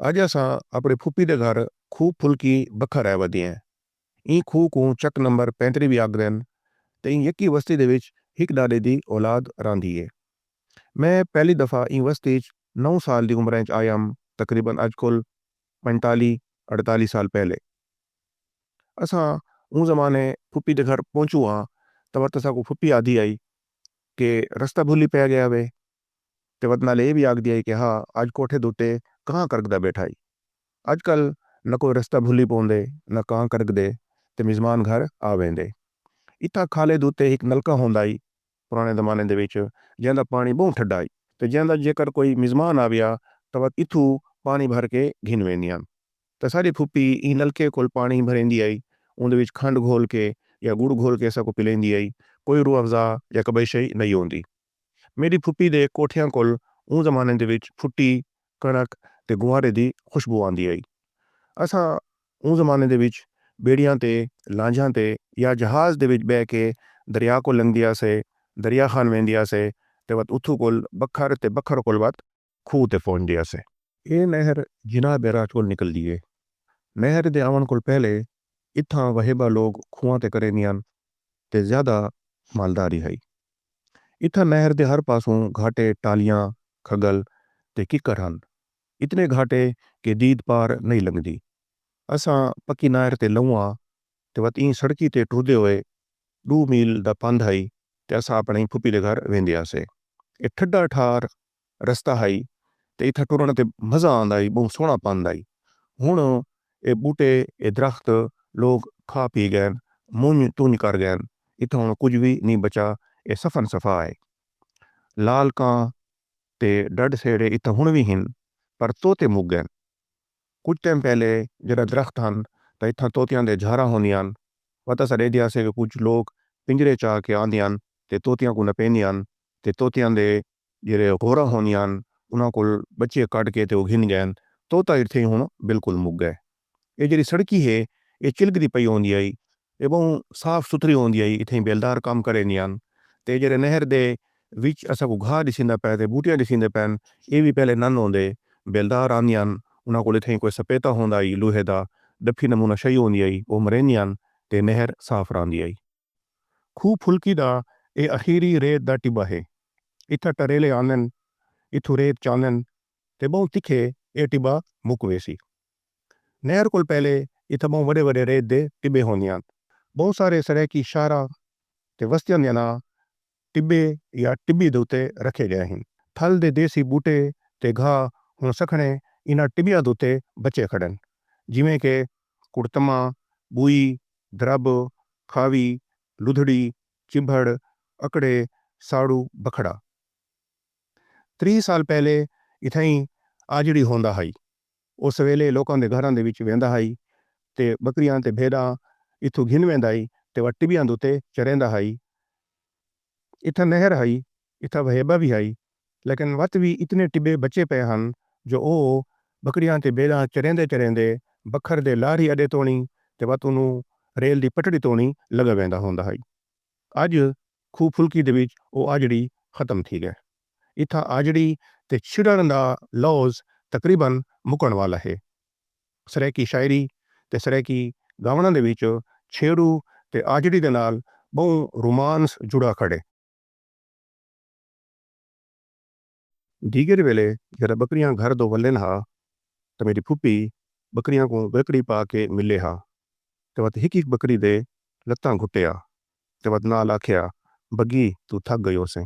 اڄ اساں اپݨی پھوپھی دے گھر کھوہ پھلکی بکھا رہ ودیئں۔ ایں کھوہ کوں چک نمبر پینتری وی آکھدن تے ایں یکی وستی دے وچ ہک ݙاݙے دی اولاد رہندی اے۔ میں پہلی دفعہ ایں وستی اچ نو سال دی عمراں اچ آیام تقریبا اڄ کل پنجتالیہہ اڑتالیہہ سال پہلے۔ اساں اوں زمانے پھوپھی دے گھر پہنچوں ہاں تاں وت اساکوں پھوپھی آدھی ہئی کہ رستہ بھلی پئے ڳیا وے۔ تے وت نال اے وی آکھدی ہئی کہ ہا اج کوٹھے دتے کاں کرگدا بیٹھا ہئی۔ اج کل نہ کوئی رستہ بھلی پوندے نہ کاں کرگدے تے مزمان گھر آ ویندے۔ اتھاں کھالے دتے ہک نلکہ ہوندا ہئی پرانے زمانے دے وچ جیندا پانی بہوں ٹھڈا ہئی تے جیندا جیکر کوئی مزمان آویا تاں وت اتھو پانی بھر کے گھن ویندیاں تاں ساڈی پھوپھی ایں نلکے کول پانی بھریندی ہئی اوندے وچ کھنڈ گھول کے یا گڑ گھول کے اساکوں پلیندی ہئی کوئی روح افزا یا کبئی شئی نئی ہوندی میݙی پھوپھی دے کوٹھیاں کول اوں زمانے دے وچ پھٹی، کݨک تے گوہارے دی خوشبو آندی ہئی۔ اساں اوں زمانے دے وچ ٻیڑیاں تے لانجھاں تے یا جہاز دے وچ ٻہہ کے دریا کوں لنگھدے ہاسے، دریا خان ویندے ہاسے تے وت اتھوں کول بکھر تے بکھر کول وت۔ کھوہ تے پہنچ دے اسے۔ ایہ نہر جناح بیراج کول نکلدی ہے۔ نہر دے آوݨ کول پہلے اتھاں وہیبہ لوگ کھوہاں تے کریندے ہن تے زیادہ مالداری ہئی۔ اتھاں نہر دے ہر پاسوں گھاٹے، ٹالیاں، کھڳل تے ککر ہن۔ اتنے گھاٹے کہ دید پار نئیں لنگھدی۔ اساں پکی نہر تے لہوں آ تے وت ایں سڑکی تے ٹردے ہوئے ݙو میل دا پندھ ہئی تے اساں اپݨی پھوپھی دے گھر ویندے ہاسے۔ ایہ ٹھڈا ٹھار رستہ ہئی تے اتھاں ٹرݨ تے مزہ آندا ہئی ٻہوں سوہݨا پندھ ہئی ہݨ اے ٻوٹے اے درخت لوک کھا پی ڳئن منڄ تنڄ کر ڳئن اتھاں ہݨ کجھ وی نی بچا اے صفن صفا ہئی لال کاں تے ݙݙ سیڑھے اتھاں ہݨ وی ہن پر طوطے مک ڳئن کجھ ٹیم پہلے جݙاں درخت ہن تاں اتھاں طوطیاں دے جھاراں ہوندیاں پتہ ساݙے ایندے آسے وی کجھ لوک پنڄرے چا کے آندیاں تے طوطیاں کوں نپیندیاں تے طوطیاں دے جیرھے حوراں ہوندیاں ہن انہاں کول بچے کڈھ کے تے او گھن گئن توں تاں ارتھے ہن بالکل مک گئے۔ اے جیرھی سڑکی ہے اے چلکدی پئی ہوندی ہئی اے بہوں صاف ستھری ہوندی ہئی اتھیں بیلدار کم کریندیاں ہن تے اے جیرھے نہر دے وچ اساں کوں گھاہ ڈسیندا پئے تے بوٹیاں ڈسیندے پئن اے وی پہلے نن ہوندے۔ بیلدار آندیاں ہن انہاں کول اتھیں کوئی سپیتا ہوندا ہئی لوہے دا ڈپھی نمونہ شئی ہوندی ہئی او مریندیاں ہن تے نہر صاف راہندی ہئی۔ کھوہ پھلکی دا اے اخیری ریت دا ٹٻہ ہے۔ اتھاں ٹریلے آندن، اتھوں ریت چاندن تے ٻہوں تکھے اے ٹٻہ مک ویسی۔ نہر کول پہلے اتھاں ٻہوں وݙے وݙے ریت دے ٹٻے ہوندیاں ہن۔ ٻہوں سارے سرائیکی شہراں تے وستیاں دیاں ناں ٹٻے یا ٹٻی دے اتے رکھے گئے ہن۔ تھل دے دیسی ٻوٹے تے گھاہ ہݨ سکھݨے انہاں ٹٻیاں دے اتے بچے کھڑن جیویں کہ کڑتما، ٻوئی، درب، کھاوی، لدھڑی، چبھڑ، اکڑے، ساڑو، بکھڑا۔ تریہہ سال پہلے اتھائیں آجڑی ہوندا ہئی۔ او سویلے لوکاں دے گھراں دے وچ ویندا ہئی تے بکریاں تے بھیݙاں اتھوں گھن ویندا ہئی تے وٹ ٹٻیاں دے اتے چریندا ہئی۔ اتھاں نہر ہئی، اتھاں وہیبہ وی ہئی، لیکن وت وی اتنے ٹٻے بچے پئے ہن جو او بکریاں تے بھیݙاں چریندے چریندے بکھر دے لارھی اݙے توݨی تے وت اونوں ریل دی پٹڑی توݨی لڳا ویندا ہوندا ہئی۔ اڄ کھوہ پھلکی دے وچ او آجڑی ختم تھی ڳئے۔ اتھاں آجڑی تے چھڑݨ دا لوظ تقریبا مکݨ والا ہے۔ سرائیکی شاعری تے سرائیکی ڳاوݨاں دے وچ چھیڑو تے آجڑی دے نال ٻہوں رومانس جڑا کھڑے۔ دیگر ویلے جݙاں ٻکریاں گھر دو ولین ہا تاں میݙی پھوپھی ٻکریاں کوں ڳرکڑی پا کے ملے ہا تے وت ہک ہک ٻکری دے لتاں گھٹے ہا تے وت نال آکھیا بگی توں تھک گئی ہوسیں۔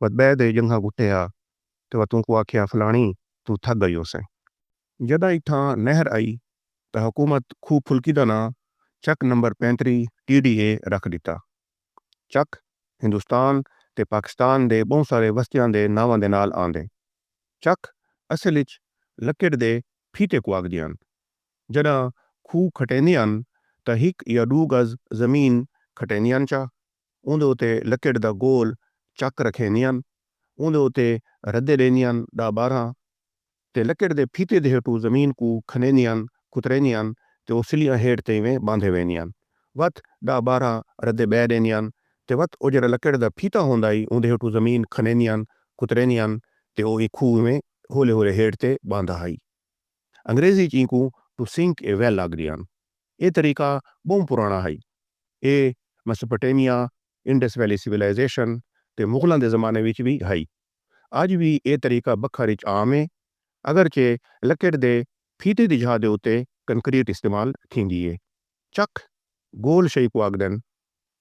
وت بئے دے جنگھاں گھٹے ہا تے وت اونکوں آکھیا فلاݨی توں تھک گئی ہوسیں۔ جݙاں اتھاں نہر آئی تاں حکومت کھوہ پھلکی دا ناں چک نمبر پینتری ٹی ڈی اے رکھ ݙتا۔ چک ہندوستان تے پاکستان دے ٻہوں سارے وستیاں دے ناواں دے نال آندے۔ چک اصل اچ لکڑ دے پھیتے کوں آکھدیاں ہن۔ جݙاں کھوہ کھٹیندے ہن تاں ہک یا ݙو گز زمین کھٹیندے ہن چا اوندے اتے لکڑ دا گول چک رکھیندے ہن اوندے اتے ردے ݙیندے ہن ݙاہ ٻارہاں تے لکڑ دے پھیتے دے ہیٹھوں زمین کوں کھنڈیندے ہن کتریندے ہن تے او سلیاں ہیٹھ تے ایویں ٻاندھے ویندے ہن وت ݙاہ ٻارہاں ردے ٻئے ݙیندے ہن تے وت او جیڑھا لکڑ دا پھیتا ہوندا ہئی اوندے ہیٹھوں زمین کھنڈیندے ہن کتریندے ہن تے او ایں کھوہ ایویں ہولے ہولے ہیٹھ تے ٻاندھا ہئی۔ انگریزی اچ اینکوں ٹو سنک اے ویل آکھدے ہن۔ ایہ طریقہ ٻہوں پراݨا ہئی۔ ایہ میسوپوٹیمیا، انڈس ویلی سویلائزیشن تے مغلاں دے زمانے وچ وی ہئی۔ اڄ وی ایہ طریقہ بکھر اچ عام ہے، اگرچہ لکڑ دے پھیتے دی جھا دے اتے کنکریٹ استعمال تھیندی ہے۔ چک، گول شئی کوں آکھدن۔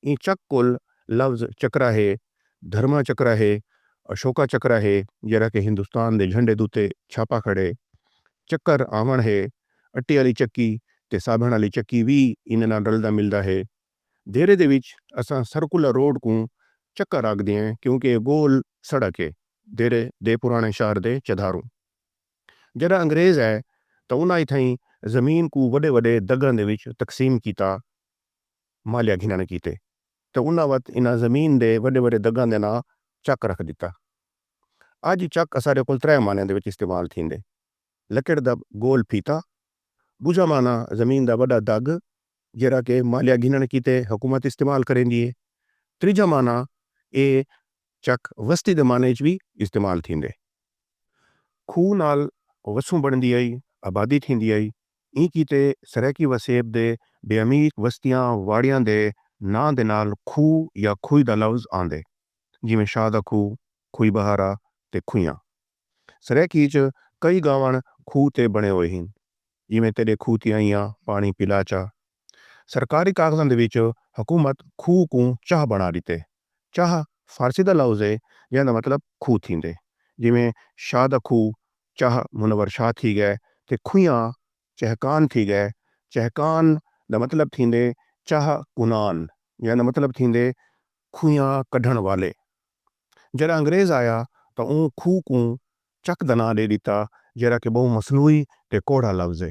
ایں چک کول لفظ چکرا ہے، دھرما چکرا ہے، اشوکا چکرا ہے جیرھا کہ ہندوستان دے جھنڈے دوتے چھاپا کھڑے۔ چکر آوݨ ہے، اٹے آلی چکی تے سابݨ آلی چکی وی ایندے نال رلدا ملدا ہے۔ دیرے دے وچ اساں سرکلر روڈ کوں چکر آکھدیئں کیونکہ ایہ گول سڑک ہے دیرے دے پراݨے شہر دے چدھاروں۔ جݙاں انگریز آئے تاں انہاں اتھائیں زمین کوں وݙے وݙے دگاں دے وچ تقسیم کیتا۔ مالیہ گھنݨ کیتے تے انہاں وت انہاں زمین دے وݙے وݙے دگاں دے ناں چک رکھ ݙتا۔ اڄ چک اساݙے کول ترے معنیاں دے وچ استعمال تھیندے۔ لکڑ دا گول پھیتا، ٻجھا معنی زمین دا وݙا دڳ جیڑھا کہ مالیہ گھنݨ کیتے حکومت استعمال کریندی اے۔ تریجھا معنی اے چک وستی دے معنی اچ وی استعمال تھیندے۔ کھوہ نال وسوں بݨدی ہئی، آبادی تھیندی ہئی۔ ایں کیتے سرائیکی وسیب دے بے عمیق وستیاں واڑیاں دے ناں دے نال کھوہ یا کھوئی دا لفظ آندے جیویں شاہ دا کھوہ، کھوئی بہارا تے کھوئیاں۔ سرائیکی اچ کئی گاوݨ کھوہ تے بݨے ہوئے ہن جیویں تیݙے کھوہ تے آئیاں پاݨی پلا چا، سرکاری کاغذاں دے وچ حکومت کھوہ کوں چاہ بݨا ݙتے۔ چاہ فارسی دا لوظ ہے جیندا مطلب کھوہ تھیندے۔ جیویں شاہ دا کھوہ چاہ منور شاہ تھی ڳئے تے کھویاں چہکان تھی ڳئے۔ چہکان دا مطلب تھیندے چاہ کنان جیندا مطلب تھیندے کھویاں کڈھݨ والے۔ جݙاں انگریز آیا تاں اوں کھوہ کوں چک دا ناں ݙے ݙتا جیڑھا کہ ٻہوں مصنوعی تے کوڑھا لوظ ہے۔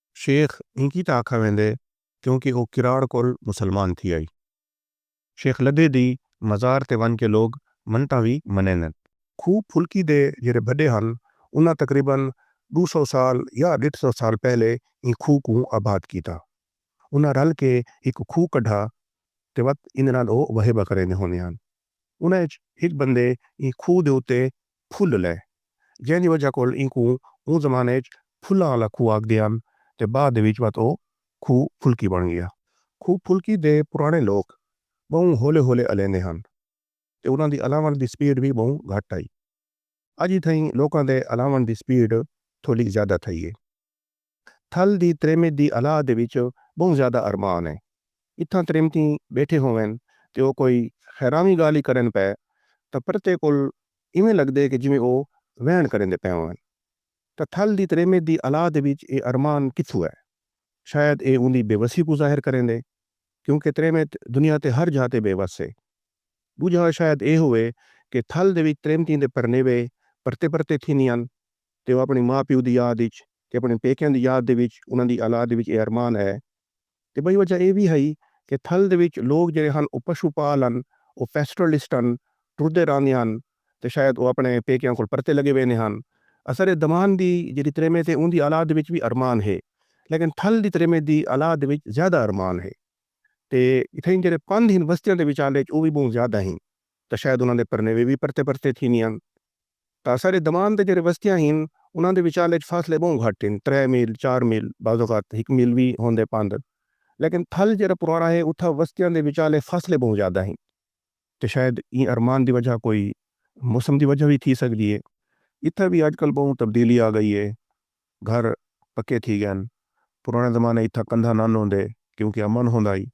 شیخ اینکی تاں آکھا ویندے کیونکہ او کراڑ کول مسلمان تھی آئی۔ شیخ لدھے دی مزار تے ونڄ کے لوگ منتاں وی منیندن۔ کھوہ پھلکی دے جیڑھے بھڈے ہن انہاں تقریبا ݙو سو سال یا ݙیڈھ سو سال پہلے ایں کھوہ کوں آباد کیتا۔ انہاں رل کے ہک کھوہ کڈھا تے وت ایندے نال او وہیبہ کریندے ہوندے ہن۔ انہاں اچ ہک بندے ایں کھوہ دے اتے پھل لئے جیں دی وجہ کول اینکوں اوں زمانے اچ پھلاں آلا کھوہ آکھدے ہن تے بعد دے وچ وت او کھوہ پھلکی بݨ ڳیا۔ کھوہ پھلکی دے پراݨے لوک ٻہوں ہولے ہولے الیندے ہن تے انہاں دی الاوݨ دی سپیڈ وی ٻہوں گھٹ ہئی۔ اڄ اتھائیں لوکاں دے الاوݨ دی سپیڈ تھولی زیادہ تھئی اے۔ تھل دی تریمت دی الہا دے وچ بہوں زیادہ ارمان ہے۔ اتھاں تریمتیں بیٹھے ہوون تے او کوئی خیراویں گالھ ای کرن پئے تاں پرتے کول ایویں لگدے کہ جیویں او ویݨ کریندے پئے ہوون۔ تاں تھل دی تریمت دی الہا دے وچ اے ارمان کتھوں ہے؟ شاید اے اوندی بے وسی کوں ظاہر کریندے کیونکہ تریمت دنیا تے ہر جھاتے بے وس ہے۔ ٻجھا شاید ایہو ہے کہ تھل دے وچ تریمتیں دے پرنیوے پرتے پرتے تھیندے ہن تے او اپݨے ماء پیو دی یاد وچ تے اپݨے پیکیاں دی یاد دے وچ انہاں دی اولاد وچ ایہ ارمان ہے تے ٻئی وجہ ایہ وی ہئی کہ تھل دے وچ لوک جیڑھے ہن او پشو پال ہن او پیسٹرلسٹ ہن ٹردے راہندے ہن تے شاید او اپݨے پیکیاں کول پرتے لڳے ویندے ہن اسرے دمان دی جیڑھی تریمت ہے اوندی اولاد وچ وی ارمان ہے لیکن تھل دی تریمت دی اولاد وچ زیادہ ارمان ہے۔ تے اتھائیں جیڑھے پندھ ہن وستیاں دے وچالے اچ او وی ٻہوں زیادہ ہن تاں شاید انہاں دے پرنیوے وی پرتے پرتے تھیندے ہن تاں اساݙے دمان دے جیڑھے وستیاں ہن انہاں دے وچالے اچ فاصلے ٻہوں گھٹ ہن ترے میل چار میل بعض اوقات ہک میل وی ہوندے پندھ لیکن تھل جیڑھا پراݨا ہے اتھاں وستیاں دے وچالے فاصلے ٻہوں زیادہ ہن۔ تے شاید ایں ارمان دی وجہ کوئی موسم دی وجہ وی تھی سگدی اے۔ اتھاں وی اج کل بہوں تبدیلی آ گئی اے۔ گھر پکے تھی گئن۔ پرانے زمانے اتھاں کندھا نان ہوندے کیونکہ امن ہوندا ہئی۔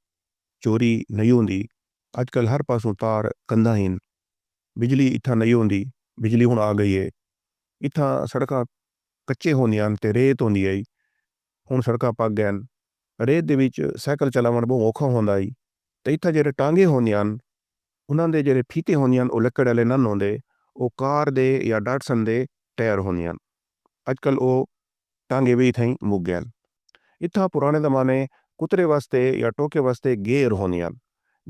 چوری نئی ہوندی۔ اج کل ہر پاسوں تار کندھا ہین۔ بجلی اتھاں نئی ہوندی۔ بجلی ہن آ گئی اے۔ اتھاں سڑکاں کچے ہوندیاں ہن تے ریت ہوندی ہئی۔ ہݨ سڑکاں پک ڳئن۔ ریت دے وچ سائیکل چلاوݨ ٻہوں اوکھا ہوندا ہئی تے اتھاں جیڑھے ٹانگے ہوندیاں ہن انہاں دے جیڑھے پھیتے ہوندے ہن او لکڑ آلے نن ہوندے او کار دے یا ڈاٹسن دے ٹائر ہوندے ہن۔ اڄ کل او ٹانگے وی اتھائیں مک ڳئن۔ اتھاں پراݨے زمانے کترے واسطے یا ٹوکے واسطے گیر ہوندے ہن۔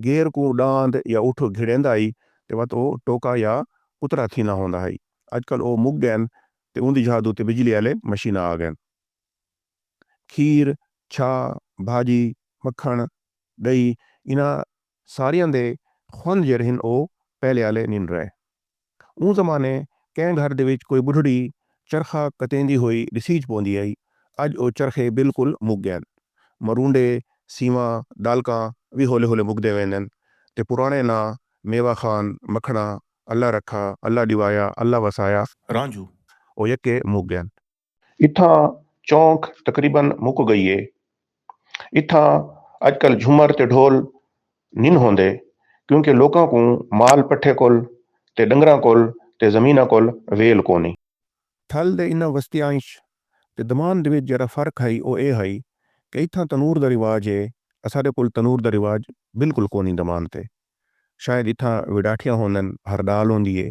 گیر کوں ݙاند یا اٹھ گھڑیندا ہئی تے وت او ٹوکا یا کترا تھیندا ہوندا ہئی۔ اڄ کل او مک ڳئن تے اوندی جاہ دے اتے بجلی آلے مشیناں آ ڳئن۔ کھیر، چھاہ، بھاجی، مکھݨ، ݙہی انہاں ساریاں دے خوند جیڑھے ہن او پہلے آلے نین رہے۔ اوں زمانے کہیں گھر دے وچ کوئی ٻڈھڑی چرخا کتیندی ہوئی ݙسیج پوندی ہئی۔ اڄ او چرخے بالکل مک ڳئن۔ مرونڈے، سیواں، ݙالکاں وی ہولے ہولے مکدے ویندن تے پراݨے ناں میوا خان، مکھݨا، اللہ رکھا، اللہ ݙیوایا، اللہ وسایا، رانجھو او یکے مک ڳئن۔ اتھاں چونک تقریبا مک گئی اے۔ اتھاں اج کل جھمر تے ڈھول نھن ہوندے کیونکہ لوکاں کوں مال پٹھے کول تے ڈنگراں کول تے زمیناں کول ویل کونی۔ تھل دے انہاں وستیاںاچ تے دمان دے وچ جیرھا فرق ہئی او اے ہئی کہ اتھاں تنور دا رواج اے اساڈے کول تنور دا رواج بالکل کونی دمان تے شاید اتھاں وڈاٹھیاں ہوندن ہر ڈال ہوندی اے۔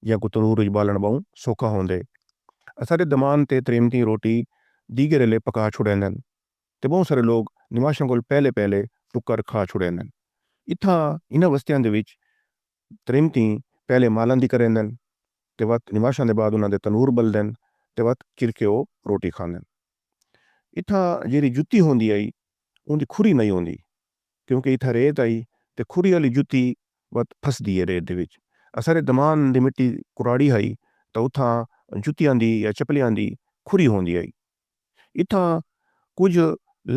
جیاں کوں تنور وچ ٻالݨ ٻہوں سوکھا ہوندے۔ اساݙے دمان تے تریمتیں روٹی دیگر ایلے پکا چھوڑیندن تے ٻہوں سارے لوک نماشاں کول پہلے پہلے ٹکر کھا چھوڑیندن۔ اتھاں انہاں وستیاں دے وچ تریمتیں پہلے مالاں دی کریندن تے وت نماشاں دے بعد انہاں دے تنور ٻلدن تے وت چرکے او روٹی کھاندن۔ اتھاں جیرھی جتی ہوندی ہئی اوندی کھری نئیں ہوندی کیونکہ اتھاں ریت ہئی تے کھری آلی جتی وت پھسدی ہے ریت دے وچ اساݙے دمان دی مٹی کراڑی ہئی تاں اتھاں جتیاں دی یا چپلیاں دی کھری ہوندی ہئی اتھاں کجھ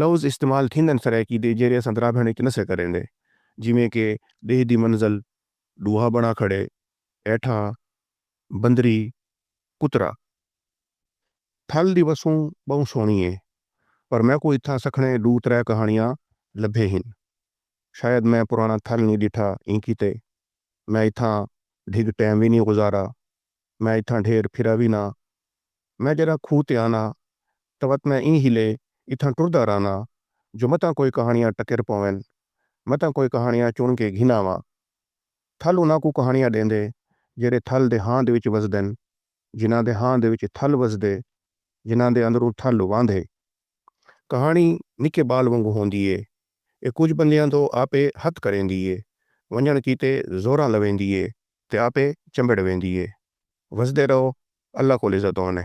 لوظ استعمال تھیندن سرائیکی دے جیرھے اساں درابھݨ وچ نسے کریندے جیویں کہ ݙیہہ دی منزل ݙوہا بݨا کھڑے ایٹھاں بندری کترا پھل دی وسوں ٻہوں سوہݨی اے پر میکوں اتھاں سکھݨے ݙو ترے کہاݨیاں لبھے ہن۔ شاید میں پراݨا تھل نی ݙٹھا ایں کیتے میں اتھاں ڈھڳ ٹیم وی نی گزارا۔ میں اتھاں ڈھیر پھرا وی نہ۔ میں جݙاں کھوہ تے آناں تاں وت میں ایں ہیلے اتھاں ٹردا رہناں جو متاں کوئی کہاݨیاں ٹکر پوون۔ متاں کوئی کہاݨیاں چݨ کے گھن آواں۔ تھل انہاں کوں کہاݨیاں ݙیندے جیڑھے تھل دے ہاند وچ وسدن۔ جنہاں دے ہاں دے وچ تھل وسدے جنہاں دے اندروں تھل واندھے۔ کہاݨی نکے ٻال وانگوں ہوندی اے۔ اے کجھ بندیاں توں آپے ہتھ کریندی اے۔ ونڄݨ کیتے زوراں لویندی اے تے آپے چمبڑ ویندی اے۔ وسدے رہو اللہ کول عزت آن اے۔